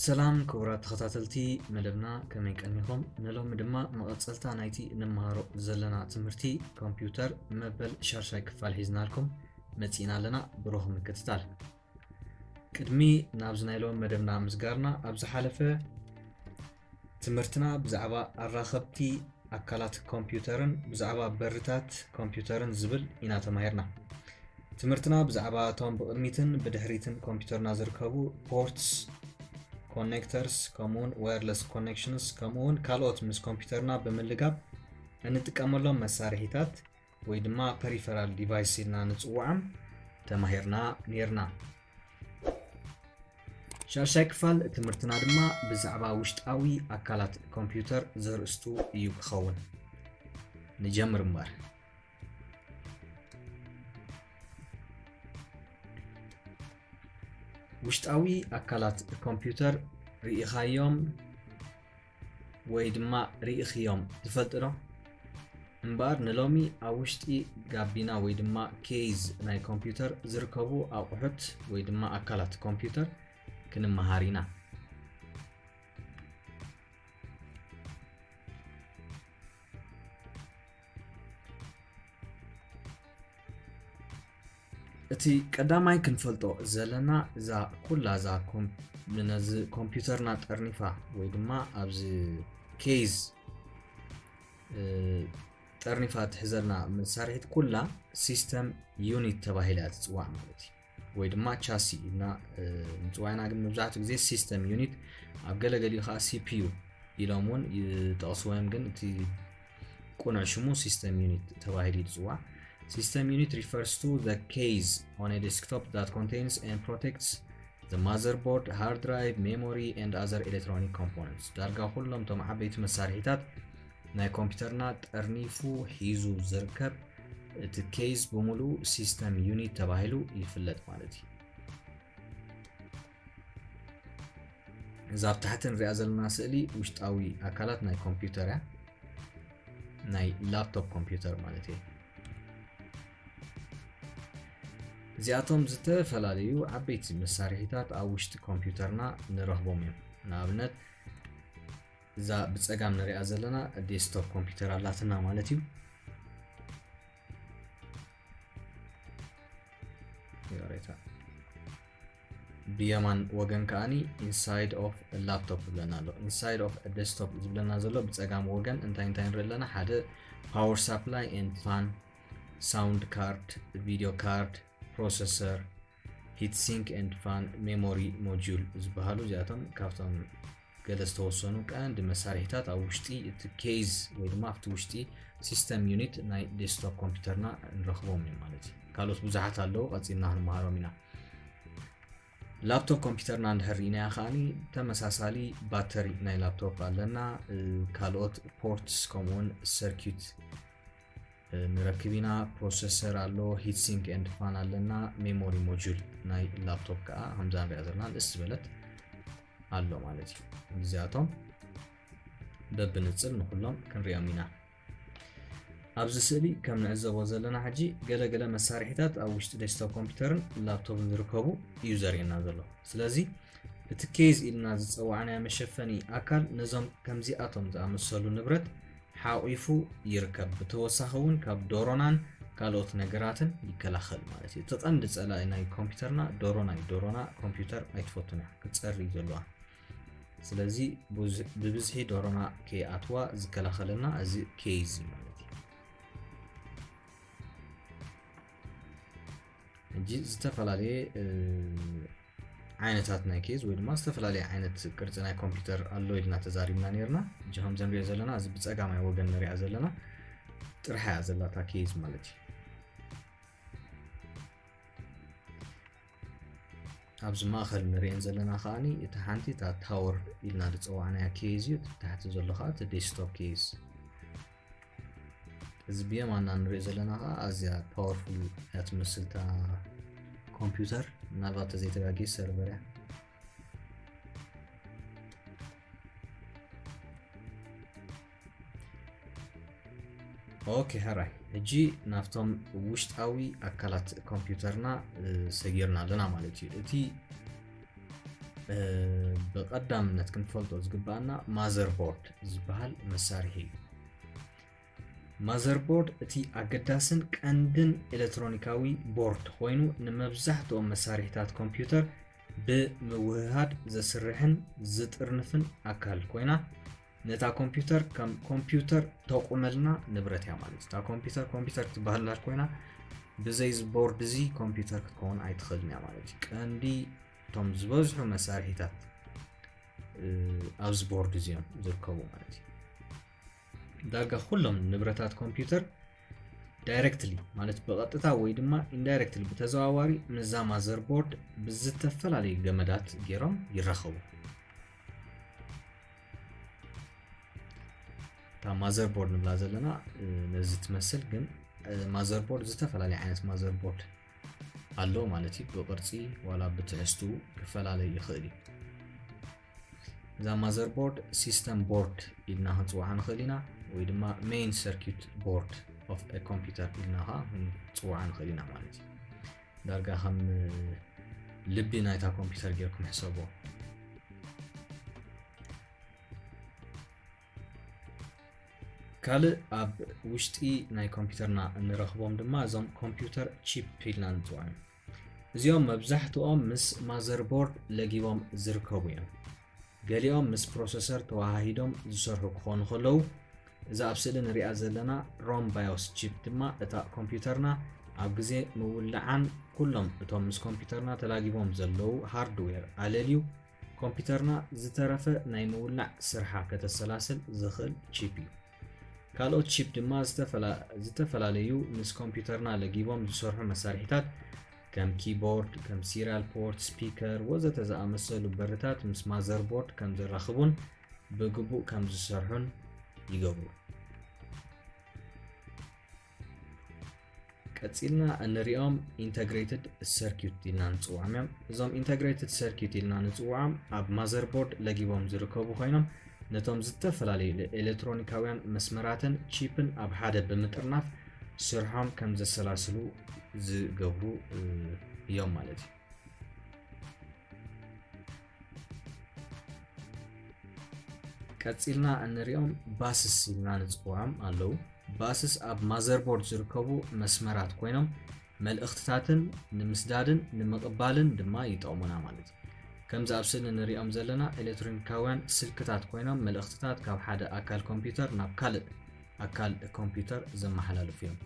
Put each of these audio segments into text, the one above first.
ሰላም ክቡራት ተኸታተልቲ መደብና ከመይ ቀኒኹም ንሎሚ ድማ መቐፀልታ ናይቲ ንመሃሮ ዘለና ትምህርቲ ኮምፒውተር መበል ሻርሻይ ክፋል ሒዝናልኩም መፂእና ኣለና ብሩኽ ምክትታል ቅድሚ ናብዚ ናይ ሎሚ መደብና ምስጋርና ኣብ ዝሓለፈ ትምህርትና ብዛዕባ ኣራኸብቲ ኣካላት ኮምፒውተርን ብዛዕባ በርታት ኮምፒውተርን ዝብል ኢና ተማሂርና ትምህርትና ብዛዕባ እቶም ብቕድሚትን ብድሕሪትን ኮምፒውተርና ዝርከቡ ፖርትስ ኮኔክተርስ ከምኡውን ዋየርለስ ኮኔክሽንስ ከምኡውን ካልኦት ምስ ኮምፒውተርና ብምልጋብ እንጥቀመሎም መሳርሒታት ወይ ድማ ፐሪፈራል ዲቫይስ ኢልና ንፅውዖም ተማሂርና ነርና ሻድሻይ ክፋል ትምህርትና ድማ ብዛዕባ ውሽጣዊ ኣካላት ኮምፒውተር ዘርእስቱ እዩ ክኸውን ንጀምር እምበር ውሽጣዊ ኣካላት ኮምፒውተር ርኢኻዮም ወይ ድማ ርኢኽዮም ትፈልጢ ዶ? እምበኣር ንሎሚ ኣብ ውሽጢ ጋቢና ወይ ድማ ኬዝ ናይ ኮምፒውተር ዝርከቡ ኣቑሑት ወይ ድማ ኣካላት ኮምፒውተር ክንመሃር ኢና። እቲ ቀዳማይ ክንፈልጦ ዘለና እዛ ኩላ እዛ ነዚ ኮምፒውተርና ጠርኒፋ ወይ ድማ ኣብዚ ኬዝ ጠርኒፋ ትሕዘልና መሳርሒት ኩላ ሲስተም ዩኒት ተባሂላ እያ ትፅዋዕ ማለት እዩ ወይ ድማ ቻሲ ኢልና ምፅዋይና ግን መብዛሕትኡ ግዜ ሲስተም ዩኒት ኣብ ገለገሊኡ ከዓ ሲፒዩ ኢሎም እውን ይጠቕስዎም ግን እቲ ቁኑዕ ሽሙ ሲስተም ዩኒት ተባሂሉ እዩ ዝፅዋዕ ሲስተም ዩኒት ሪፈርስ ቱ ዘ ኬዝ ኦን ዴስክቶፕ ዛት ኮንቴንስ ኤንድ ፕሮቴክትስ ዘ ማዘርቦርድ ሃርድ ድራይቭ ሜሞሪ ኤንድ ኣዘር ኤሌክትሮኒክ ኮምፖነንትስ ዳርጋ ኩሎም እቶም ዓበይቲ መሳርሒታት ናይ ኮምፒውተርና ጠርኒፉ ሒዙ ዝርከብ እቲ ኬዝ ብምሉኡ ሲስተም ዩኒት ተባሂሉ ይፍለጥ ማለት እዩ እዛ ኣብ ታሕቲ ንሪኣ ዘለና ስእሊ ውሽጣዊ ኣካላት ናይ ኮምፒውተር እያ ናይ ላፕቶፕ ኮምፒውተር ማለት እዩ እዚኣቶም ዝተፈላለዩ ዓበይቲ መሳርሒታት ኣብ ውሽጢ ኮምፒውተርና ንረኽቦም እዮም ንኣብነት እዛ ብፀጋም ንሪኣ ዘለና ዴስክቶፕ ኮምፒውተር ኣላትና ማለት እዩ ይቕሬታ ብየማን ወገን ከዓኒ ኢንሳይድ ኦፍ ላፕቶፕ ዝብለና ኣሎ ኢንሳይድ ኦፍ ዴስክቶፕ ዝብለና ዘሎ ብፀጋም ወገን እንታይ እንታይ ንርኢ ኣለና ሓደ ፓወር ሳፕላይ ኤንድ ፋን ሳውንድ ካርድ ቪዲዮ ካርድ ፕሮሰሰር ሂት ሲንክ ኤንድ ፋን ሜሞሪ ሞጁል ዝበሃሉ እዚኣቶም ካብቶም ገለ ዝተወሰኑ ቀንዲ መሳርሒታት ኣብ ውሽጢ እቲ ኬዝ ወይ ድማ ኣብቲ ውሽጢ ሲስተም ዩኒት ናይ ዴስክቶፕ ኮምፒውተርና ንረኽቦም እዩ ማለት እዩ ካልኦት ብዙሓት ኣለዉ ቀፂልና ክንመሃሮም ኢና ላፕቶፕ ኮምፒውተርና እንድሕር ኢናያ ከዓኒ ተመሳሳሊ ባተሪ ናይ ላፕቶፕ ኣለና ካልኦት ፖርትስ ከምኡውን ሰርኪት ንረክብ ኢና ፕሮሰሰር ኣሎ ሂት ሲንክ ኤንድ ፋን ኣለና ሜሞሪ ሞጁል ናይ ላፕቶፕ ከዓ ከምዛ ንሪኣ ዘለና ንእስ ዝበለት ኣሎ ማለት እዩ እዚኣቶም በብንፅል ንኩሎም ክንሪኦም ኢና ኣብዚ ስእሊ ከም ንዕዘቦ ዘለና ሕጂ ገለገለ መሳርሒታት ኣብ ውሽጢ ዴስክቶፕ ኮምፒውተርን ላፕቶፕን ዝርከቡ እዩ ዘርእየና ዘሎ ስለዚ እቲ ኬዝ ኢልና ዝፀዋዕናዮ መሸፈኒ ኣካል ነዞም ከምዚኣቶም ዝኣመሰሉ ንብረት ሓቒፉ ይርከብ። ብተወሳኺ እውን ካብ ዶሮናን ካልኦት ነገራትን ይከላኸል ማለት እዩ። እቲ ቀንዲ ጸላኢ ናይ ኮምፒውተርና ዶሮና እዩ። ዶሮና ኮምፒውተር ኣይትፈቱን እያ፣ ክትጸሪ ዘለዋ። ስለዚ ብብዝሒ ዶሮና ከይኣትዋ ዝከላኸለና እዚ ኬዝ እዩ። ሕጂ ዝተፈላለየ ዓይነታት ናይ ኬዝ ወይ ድማ ዝተፈላለየ ዓይነት ቅርፂ ናይ ኮምፒውተር ኣሎ ኢልና ተዛሪብና ነርና እጂ ከምዚ ንሪኦ ዘለና እዚ ብፀጋማይ ወገን ንሪኣ ዘለና ጥርሓ እያ ዘላታ ኬዝ ማለት እዩ ኣብዚ ማእኸል ንሪኤን ዘለና ከዓኒ እቲ ሓንቲ እታ ታወር ኢልና ዝፀዋዕናያ ኬዝ እዩ ታሕቲ ዘሎ ከዓ እቲ ዴስክቶፕ ኬዝ እዚ ብየማና ንሪኦ ዘለና ከዓ ኣዝያ ፓወርፉል እያ ትመስል እታ ኮምፒውተር ምናልባት ተዘይተጋጌ ሰርቨር እያ ኦኬ ሕራይ ሕጂ ናብቶም ውሽጣዊ ኣካላት ኮምፒውተርና ሰጊርና ኣለና ማለት እዩ እቲ ብቀዳምነት ክንፈልጦ ዝግባኣና ማዘርቦርድ ዝበሃል መሳርሒ እዩ ማዘርቦርድ እቲ ኣገዳስን ቀንድን ኤሌክትሮኒካዊ ቦርድ ኮይኑ ንመብዛሕትኦም መሳርሒታት ኮምፒውተር ብምውህሃድ ዘስርሕን ዝጥርንፍን ኣካል ኮይና ነታ ኮምፒውተር ከም ኮምፒውተር ተቑመልና ንብረት እያ ማለት እታ ኮምፒውተር ኮምፒውተር ክትበሃል እንዳ ኮይና ብዘይ ቦርድ እዚ ኮምፒውተር ክትከውን ኣይትኽእልን እያ ማለት እዩ ቀንዲ እቶም ዝበዝሑ መሳርሒታት ኣብዚ ቦርድ እዚኦም ዝርከቡ ማለት እዩ ዳርጋ ኩሎም ንብረታት ኮምፒውተር ዳይረክትሊ ማለት ብቐጥታ ወይ ድማ ኢንዳይረክትሊ ብተዘዋዋሪ ምስዛ ማዘር ቦርድ ብዝተፈላለዩ ገመዳት ገይሮም ይራኸቡ ማዘር ቦርድ ንብላ ዘለና ነዚ ትመስል ግን ማዘር ቦርድ ዝተፈላለየ ዓይነት ማዘር ቦርድ ኣሎ ማለት እዩ ብቅርፂ ዋላ ብትሕዝቱ ክፈላለይ ይኽእል እዩ እዛ ማዘር ቦርድ ሲስተም ቦርድ ኢልና ክንፅዋዓ ንኽእል ኢና ወይ ድማ ሜይን ሰርኪት ቦርድ ኦፍ ኮምፒውተር ኢልና ከዓ ክንፅዋዓ ንኽእል ኢና ማለት እዩ ዳርጋ ከም ልቢ ናይታ ኮምፒውተር ጌርኩም ሕሰቦ ካልእ ኣብ ውሽጢ ናይ ኮምፒውተርና እንረኽቦም ድማ እዞም ኮምፒውተር ቺፕ ኢልና ንፅውዖም እዚኦም መብዛሕትኦም ምስ ማዘርቦርድ ለጊቦም ዝርከቡ እዮም ገሊኦም ምስ ፕሮሰሰር ተወሃሂዶም ዝሰርሑ ክኾኑ ከለዉ እዛ ኣብ ስእሊ ንሪኣ ዘለና ሮም ባዮስ ቺፕ ድማ እታ ኮምፒውተርና ኣብ ግዜ ምውላዓን ኩሎም እቶም ምስ ኮምፒውተርና ተላጊቦም ዘለዉ ሃርድዌር ኣለልዩ ኮምፒውተርና ዝተረፈ ናይ ምውላዕ ስርሓ ከተሰላስል ዝኽእል ቺፕ እዩ ካልኦት ቺፕ ድማ ዝተፈላለዩ ምስ ኮምፒውተርና ለጊቦም ዝሰርሑ መሳርሒታት ከም ኪቦርድ፣ ከም ሲሪያል ፖርት፣ ስፒከር፣ ወዘተ ዝኣመሰሉ በርታት ምስ ማዘርቦርድ ከም ዘራኽቡን ብግቡእ ከም ዝሰርሑን ይገብሩ። ቀጺልና እንሪኦም ኢንተግሬትድ ሰርኪዩት ኢልና ንፅውዖም እዮም እዞም ኢንተግሬትድ ሰርኪዩት ኢልና ንፅውዖም ኣብ ማዘርቦርድ ለጊቦም ዝርከቡ ኮይኖም ነቶም ዝተፈላለዩ ኤለትሮኒካውያን መስመራትን ቺፕን ኣብ ሓደ ብምጥርናፍ ስርሖም ከም ዘሰላስሉ ዝገብሩ እዮም ማለት እዩ። ቀፂልና እንሪኦም ባስስ ኢልና ንፅውዖም ኣለው። ባስስ ኣብ ማዘርቦርድ ዝርከቡ መስመራት ኮይኖም መልእኽትታትን ንምስዳድን ንምቕባልን ድማ ይጠቕሙና ማለት እዩ። ከምዚ ኣብ ስእሊ ንሪኦም ዘለና ኤሌክትሮኒካውያን ስልክታት ኮይኖም መልእኽትታት ካብ ሓደ ኣካል ኮምፒውተር ናብ ካልእ ኣካል ኮምፒውተር ዘመሓላልፉ እዮም።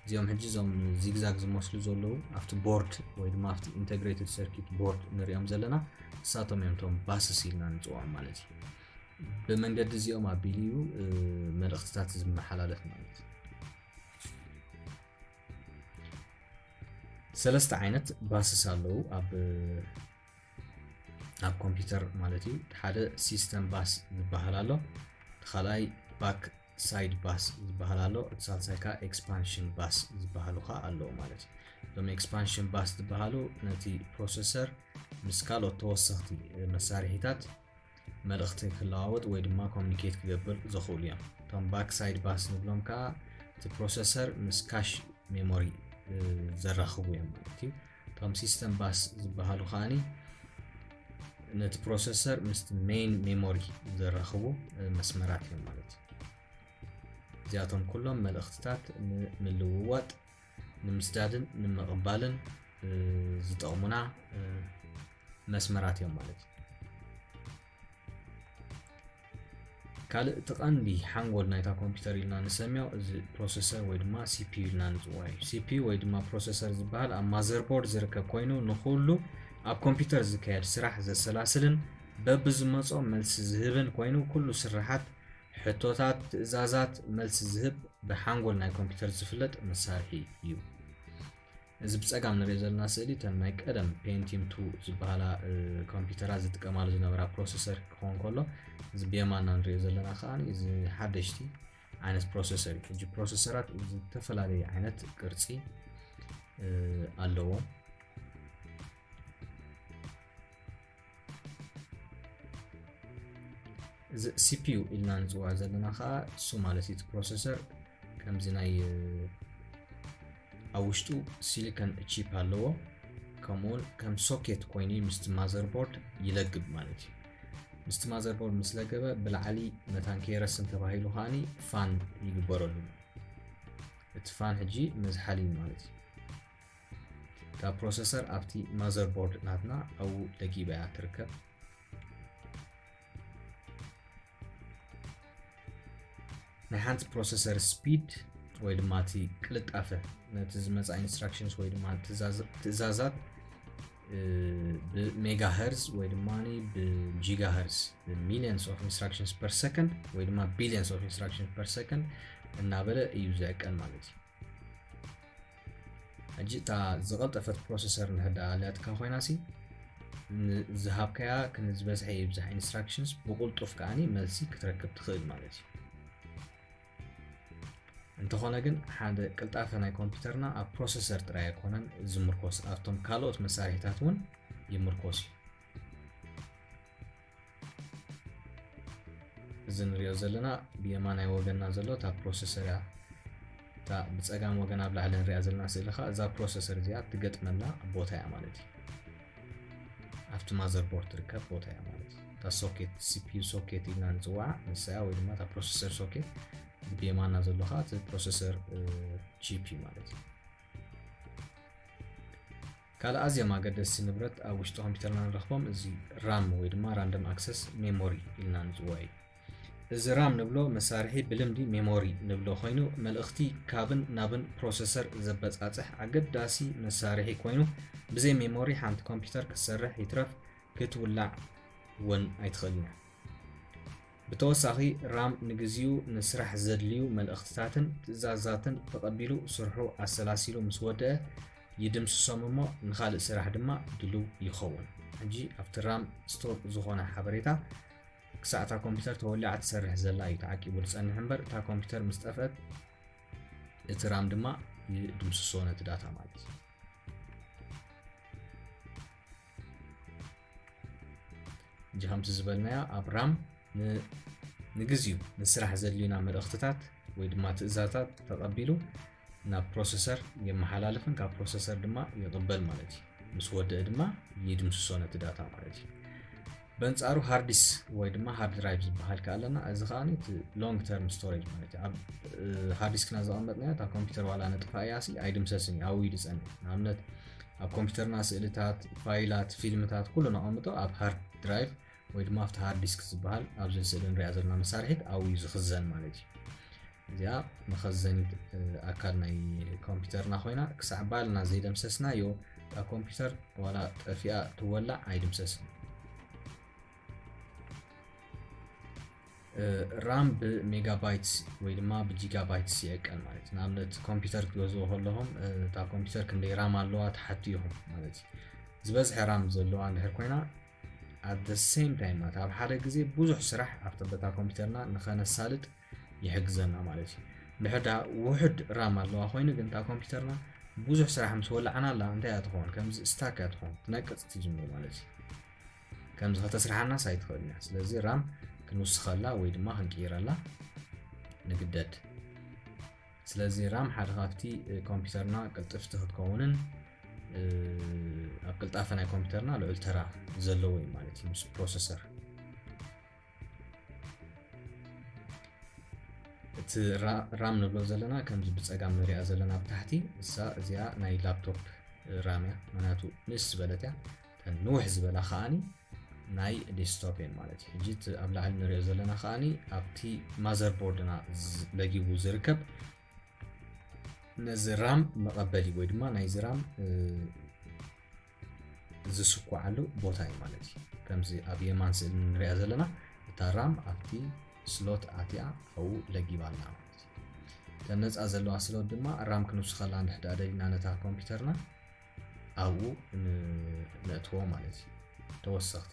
እዚኦም ሕጂ እዞም ዚግዛግ ዝመስሉ ዘለዉ ኣብቲ ቦርድ ወይ ድማ ኣብቲ ኢንተግሬትድ ሰርኪት ቦርድ ንሪኦም ዘለና ንሳቶም እዮም እቶም ባስስ ኢልና ንፅውዖም ማለት እዩ። ብመንገዲ እዚኦም ኣቢሉ እዩ መልእኽትታት ዝመሓላለፍ ማለት እዩ። ሰለስተ ዓይነት ባስስ ኣለዉ ኣብ ኣብ ኮምፒውተር ማለት እዩ ሓደ ሲስተም ባስ ዝበሃል ኣሎ ካልኣይ ባክ ሳይድ ባስ ዝበሃል ኣሎ እቲ ሳልሳይ ከዓ ኤክስፓንሽን ባስ ዝበሃሉ ከዓ ኣለዉ ማለት እዩ እዞም ኤክስፓንሽን ባስ ዝበሃሉ ነቲ ፕሮሰሰር ምስ ካልኦት ተወሰኽቲ መሳርሒታት መልእኽቲ ክለዋወጥ ወይ ድማ ኮሚኒኬት ክገብር ዘኽእሉ እዮም እቶም ባክ ሳይድ ባስ ንብሎም ከዓ እቲ ፕሮሰሰር ምስ ካሽ ሜሞሪ ዘራኽቡ እዮም ማለት እዩ እቶም ሲስተም ባስ ዝበሃሉ ከዓኒ ነቲ ፕሮሰሰር ምስ ሜይን ሜሞሪ ዘራኽቡ መስመራት እዮም ማለት እዩ እዚኣቶም ኩሎም መልእኽትታት ንምልውዋጥ ንምስዳድን ንምቕባልን ዝጠቕሙና መስመራት እዮም ማለት እዩ ካልእ እቲ ቀንዲ ሓንጎል ናይታ ኮምፒውተር ኢልና ንሰምዮ እዚ ፕሮሰሰር ወይ ድማ ሲፒዩ ኢልና ንፅዋ እዩ ሲፒዩ ወይ ድማ ፕሮሰሰር ዝበሃል ኣብ ማዘርቦርድ ዝርከብ ኮይኑ ንኩሉ ኣብ ኮምፒውተር ዝካየድ ስራሕ ዘሰላስልን በብዝመፆ መልሲ ዝህብን ኮይኑ ኩሉ ስራሓት ሕቶታት ትእዛዛት መልሲ ዝህብ ብሓንጎል ናይ ኮምፒውተር ዝፍለጥ መሳርሒ እዩ። እዚ ብፀጋም ንሪኦ ዘለና ስእሊ እተን ናይ ቀደም ፔንቲም ቱ ዝበሃላ ኮምፒውተራት ዝጥቀማሉ ዝነበራ ፕሮሰሰር ክኸውን ከሎ እዚ ብየማና ንሪኦ ዘለና ከዓ እዚ ሓደሽቲ ዓይነት ፕሮሰሰር እዩ ሕጂ ፕሮሰሰራት ዝተፈላለየ ዓይነት ቅርፂ ኣለዎም እዚ ሲፒዩ ኢልና ንፅውዖ ዘለና ከዓ እሱ ማለት እቲ ፕሮሰሰር ከምዚ ናይ ኣብ ውሽጡ ሲሊኮን ቺፕ ኣለዎ ከምኡውን ከም ሶኬት ኮይኑ ምስቲ ማዘርቦርድ ይለግብ ማለት እዩ ምስቲ ማዘርቦርድ ምስ ለገበ ብላዕሊ መታን ከይረስን ተባሂሉ ከዓኒ ፋን ይግበረሉ እቲ ፋን ሕጂ መዝሓሊ ማለት እዩ እታ ፕሮሰሰር ኣብቲ ማዘር ቦርድ ናትና ኣብኡ ደጊባ እያ ትርከብ ናይ ሓንቲ ፕሮሰሰር ስፒድ ወይ ድማ እቲ ቅልጣፈ ነቲ ዝመፃ ኢንስትራክሽንስ ወይ ድማ ትእዛዛት ብሜጋሄርዝ ወይ ድማ ብጂጋሄርዝ ሚሊየንስ ኦፍ ኢንስትራክሽንስ ፐር ሰከንድ ወይ ድማ ቢሊየንስ ኦፍ ኢንስትራክሽንስ ፐር ሰከንድ እናበለ እዩ ዘዕቀን ማለት እዩ ሕጂ እታ ዝቐልጠፈት ፕሮሰሰር እንድሕር ደኣ ኣልያትካ ኮይና ሲ ዝሃብካያ ክን ዝበዝሐ ይብዛሕ ኢንስትራክሽንስ ብቕልጡፍ ከዓኒ መልሲ ክትረክብ ትኽእል ማለት እዩ እንተኾነ ግን ሓደ ቅልጣፈ ናይ ኮምፒውተርና ኣብ ፕሮሰሰር ጥራይ ኣይኮነን ዝምርኮስ ኣብቶም ካልኦት መሳርሒታት እውን ይምርኮስ እዩ እዚ ንሪኦ ዘለና ብየማናይ ወገንና ዘሎ እታ ፕሮሰሰር እያ እታ ብፀጋም ወገን ኣብ ላዕሊ ንሪኣ ዘለና ስእሊ ከዓ እዛ ፕሮሰሰር እዚኣ ትገጥመላ ቦታ እያ ማለት እዩ ኣብቲ ማዘር ቦርድ ትርከብ ቦታ እያ ማለት እዩ እታ ሶኬት ሲፒዩ ሶኬት ኢልና ንፅዋዓ ንሳ እያ ወይ ድማ እታ ፕሮሰሰር ሶኬት እዚ ብየማና ዘሎ ከዓ እቲ ፕሮሰሰር ጂፒ ማለት እዩ ካልእ ኣዝዮም ኣገደስቲ ንብረት ኣብ ውሽጢ ኮምፒተርና ንረኽቦም እዚ ራም ወይ ድማ ራንደም ኣክሰስ ሜሞሪ ኢልና ንፅውዖ እዩ። እዚ ራም ንብሎ መሳርሒ ብልምዲ ሜሞሪ ንብሎ ኮይኑ መልእኽቲ ካብን ናብን ፕሮሰሰር ዘበፃፅሕ ኣገዳሲ መሳርሒ ኮይኑ ብዘይ ሜሞሪ ሓንቲ ኮምፒተር ክትሰርሕ ይትረፍ ክትውላዕ እውን ኣይትኽእልን እያ። ብተወሳኺ ራም ንግዚኡ ንስራሕ ዘድልዩ መልእኽትታትን ትእዛዛትን ተቐቢሉ ስርሑ ኣሰላሲሉ ምስ ወደኣ ይድምስሶም እሞ ንኻልእ ስራሕ ድማ ድሉው ይኸውን። ሕጂ ኣብቲ ራም ስቶር ዝኾነ ሓበሬታ ክሳዕ እታ ኮምፒተር ተወሊዓ ትሰርሕ ዘላ እዩ ተዓቂቡ ዝጸንሕ እምበር እታ ኮምፒተር ምስ ጠፍአት እቲ ራም ድማ ይድምስሶ ነቲ ዳታ ማለት እዩ። እጂ ከምቲ ዝበልናዮ ኣብ ራም ንግዚኡ ንስራሕ ዘድልዩና መልእኽትታት ወይ ድማ ትእዛታት ተቐቢሉ ናብ ፕሮሰሰር የመሓላልፍን ካብ ፕሮሰሰር ድማ ይቕበል ማለት እዩ ምስ ወደእ ድማ ይድምስሶ ነቲ ዳታ ማለት እዩ በንጻሩ ሃርዲስ ወይ ድማ ሃርድ ድራይቭ ዝበሃል ከ ኣለና እዚ ከዓ እቲ ሎንግ ተርም ስቶሬጅ ማለት እዩ ኣብ ሃርዲስክና ዘቐመጥናዮ እታ ኮምፒውተር ዋላ ነጥፋ እያ ሲ ኣይድምሰስን እዩ ኣብኡ ይድፀን እዩ ንኣብነት ኣብ ኮምፒውተርና ስእልታት ፋይላት ፊልምታት ኩሉ ነቐምጦ ኣብ ሃርድ ድራይቭ ወይ ድማ ኣብቲ ሃርድ ዲስክ ዝበሃል ኣብዚ ስእሊ ንሪኣ ዘለና መሳርሒት ኣብኡ እዩ ዝኽዘን ማለት እዩ እዚኣ መኸዘኒት ኣካል ናይ ኮምፒውተርና ኮይና ክሳዕ ባልና ዘይደምሰስናዮ እታ ኮምፒውተር ዋላ ጠፊኣ ትወላዕ ኣይድምሰስን ራም ብሜጋባይትስ ወይ ድማ ብጂጋባይትስ ይዕቀን ማለት እዩ ንኣብነት ኮምፒውተር ክትገዝኡ ከለኹም እታ ኮምፒውተር ክንደይ ራም ኣለዋ ትሓቱ ኢኹም ማለት እዩ ዝበዝሐ ራም ዘለዋ እንድሕር ኮይና ኣብ ሴም ታይም ማለት ኣብ ሓደ ግዜ ብዙሕ ስራሕ ኣብቲ በታ ኮምፒውተርና ንኸነሳልጥ ይሕግዘና ማለት እዩ ድሕር ድኣ ውሕድ ራም ኣለዋ ኮይኑ ግን እታ ኮምፒውተርና ብዙሕ ስራሕ ምስ ወላዕናላ እንታይ እያ ትኸውን ከምዚ ስታክ እያ ትኸውን ትነቅፅ ትጅምር ማለት እዩ ከምዚ ከተስርሓናስ ኣይትኽእልን እያ ስለዚ ራም ክንውስኸላ ወይ ድማ ክንቅይረላ ንግደድ ስለዚ ራም ሓደ ካብቲ ኮምፒውተርና ቅልጥፍቲ ክትከውንን ኣብ ቅልጣፈ ናይ ኮምፒውተርና ልዑል ተራ ዘለዎ እዩ ማለት እዩ ምስ ፕሮሰሰር እቲ ራም ንብሎ ዘለና ከምዚ ብፀጋም ንሪኣ ዘለና ኣብ ታሕቲ እሳ እዚኣ ናይ ላፕቶፕ ራም እያ ምክንያቱ ንእስ ዝበለት እያ ተን ንውሕ ዝበላ ከዓኒ ናይ ዴስክቶፕ እየን ማለት እዩ ሕጂ እቲ ኣብ ላዕሊ ንሪኦ ዘለና ከዓኒ ኣብቲ ማዘር ቦርድና ለጊቡ ዝርከብ ነዚ ራም መቐበሊ ወይ ድማ ናይዚ ራም ዝስኳዓሉ ቦታ እዩ ማለት እዩ ከምዚ ኣብ የማን ስእሊ ንሪኣ ዘለና እታ ራም ኣብቲ ስሎት ኣትያ ኣብኡ ለጊባ ኣላ ማለት እዩ እተን ነፃ ዘለዋ ስሎት ድማ ራም ክንውስኸላ ንድሕዳ ደሊና ነታ ኮምፒውተርና ኣብኡ ነእትዎ ማለት እዩ ተወሰኽቲ